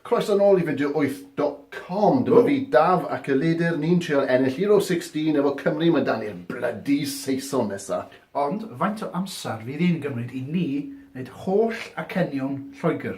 Croeso nôl i fideo wyth dot com, dyma fi Daf ac Elidr, ni'n trial ennill Euro 16 efo Cymru, mae 'da ni'r blydi Saeson nesa. Ond faint o amser fydd yn gymryd i ni wneud holl acenion Lloegr?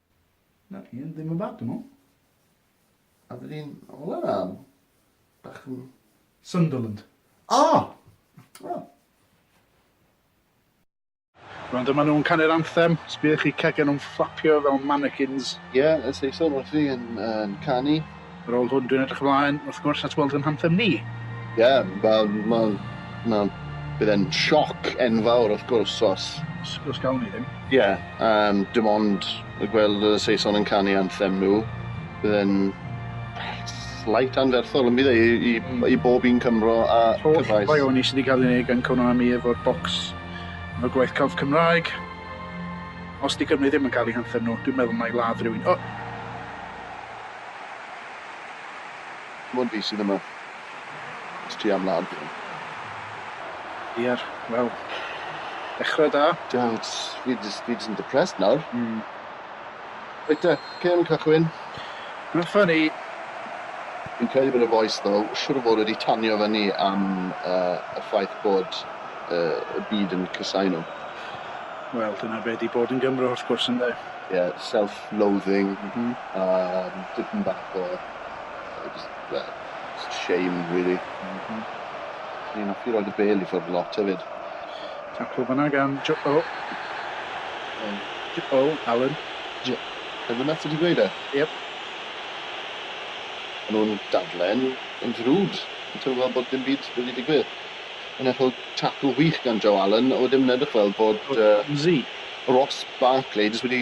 Na, i yn ddim yn bad, dwi'n meddwl. A dyn ni'n ôl yna, bach yn... Sunderland. O! O! Rwan dyma nhw'n canu'r anthem, sbïwch i cegau nhw'n fflapio fel mannequins. Ie, y Saeson wrthi yn canu. Ar ôl hwn, dwi'n edrych ymlaen, wrth gwrs, at weld ein hanthem ni. Ie, wel, wel, wel, bydd e'n sioc enfawr, wrth gwrs, os... Os, os gawn ni ddim. Ie, um, dim ond y gweld y Saeson yn canu anthem nhw, bydd e'n slight anferthol yn bydd e i, i, hmm. i bob un Cymro a Cyfraith. Holl baioni sydd wedi cael ei wneud gan Konami efo'r bocs efo gwaith celf Cymraeg. Os di Cymru ddim yn cael ei hanthem nhw, dwi'n meddwl mai ladd rhywun. O! Dim ond fi sydd yma. Jyst ti a mhlan fi. Iar, wel, dechra da. Dad, fi jyst, fi jyst yn depressed nawr. Mm. Reit te, cân yn cychwyn. Rwy'n ffynnu. Fi'n credu bod y voice ddo, siwr o fod wedi tanio fyny am uh, y ffaith bod uh, y byd yn cysau nhw. Wel, dyna be di bod yn Gymro, wrth gwrs, ynde? Ie, yeah, self, loathing a dipyn bach o yy jyst fel jyst shame rili. M-hm. O'n i'n offi roid y bêl i ffwrdd lot hefyd. Taclo fanna gan Jo- o! Iawn. Jo- o! Alun. Jo- Be' bynnag ti 'di gweud e? Iep. Ma' nw'n dadlen yn ddrud. Fi'n teimlo fel bod dim byd wedi digwydd. A nethon nw taclo wych gan Joe Allen a wedyn ma'n edrych fel bod yy... Romsey. Ross Barkley jyst wedi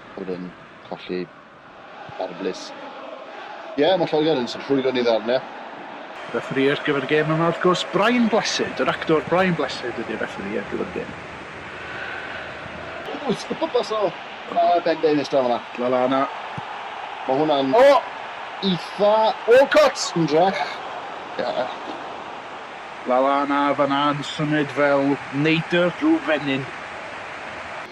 oedd yn colli ar y blys. Ie, yeah, mae Lloegr yn sy'n rhwygo ni ddarnau. Refferee ar gyfer y gêm yma, wrth gwrs, Brian Blessed. Yr actor Brian Blessed ydy'r refferee ar gyfer y gêm. Ww, sy'n pwpas o uh, Ben Davies draw yna. Lalana. Mae hwnna'n... O! Oh! Eitha... Walcott! Yn drech. Yeah. Lalana fan'na yn symud fel neidr drwy fenyn.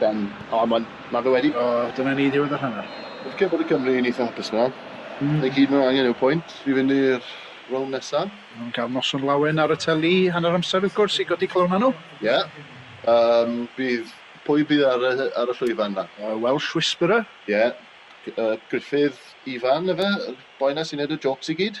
Ben. O ma'n ma fe wedi. O dyna ni ddiwedd yr hanner. Fi'n credu bod y Cymry yn eitha hapus nawr. Mm. Fe gyd ma' angen yw pwynt i fynd i'r rownd nesa. Ma' nhw'n cael noson lawen ar y teli hanner amser wrth gwrs i godi calona nhw. Ie. Yym bydd pwy bydd ar y ar y llwyfan na? Y Welsh Whisperer. Ie. G- yy Gruffydd Ifan efe y boi na sy'n neud y jôcs i gyd.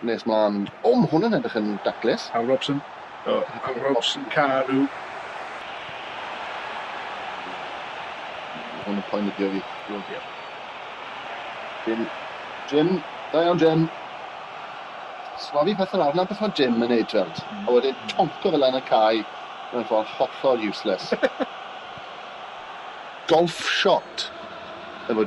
Nes mlaen. O, mae hwn yn edrych yn daclus. Al Robson. O, Al Robson, Carew. Mae hwn yn poenyddio fi. Dwi'n diolch. Jim. Jim. Da iawn, Jim. Swafi pethau arna beth mae Jim yn neud, Trent. Mm. A wedyn tonco fel yn y cae mewn ffordd hollol useless. Golf shot. Efo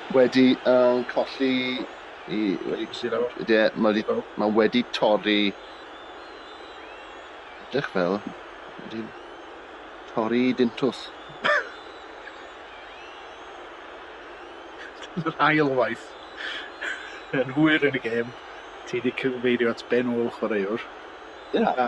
Wedi yy colli i... Wedi colli lawr? Ie, ma' wedi... Lawr? Ma' wedi torri... Edrych fel... Wedi... Torri i dintws. Yr ail waith yn hwyr yn y gêm, ti 'di cyfeirio at ben ôl chwaraewr. Ie. A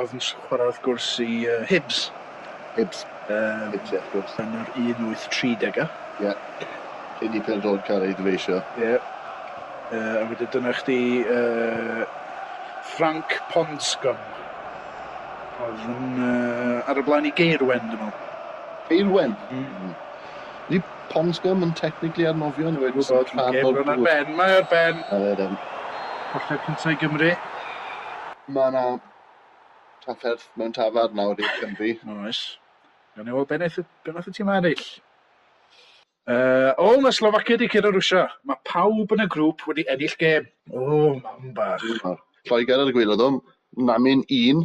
Oedd yn chwarae wrth gwrs i yy Hibs. Hibs. Yym. Hibs ie wrth gwrs. Yn yr un wyth tri dega. Ie. Cyn i pêl-droed cael ei ddyfeisio. Ie. Yy a wedyn dyna chdi yy Ffranc Ponscom. Oedd yn yy ar y blaen i Gaerwen dwi me'wl. Gaerwen? Hmm. Ydy Ponsgum yn technically ar nofio neu wedi bod rhan o'r gŵr? Ar ben, mae ar ben. A fe ddim. Colli'r cyntaf i Gymru. Mae yna trafferth mewn tafad nawr i'r Cymru. Oes. Gan ei weld beth wnaeth y tîm ennill. Uh, o, mae Slovakia wedi cyrra Rwysia. Mae pawb yn y grŵp wedi ennill gêm. O, mam bach. Lloegr ar y gwylod o, Namin un.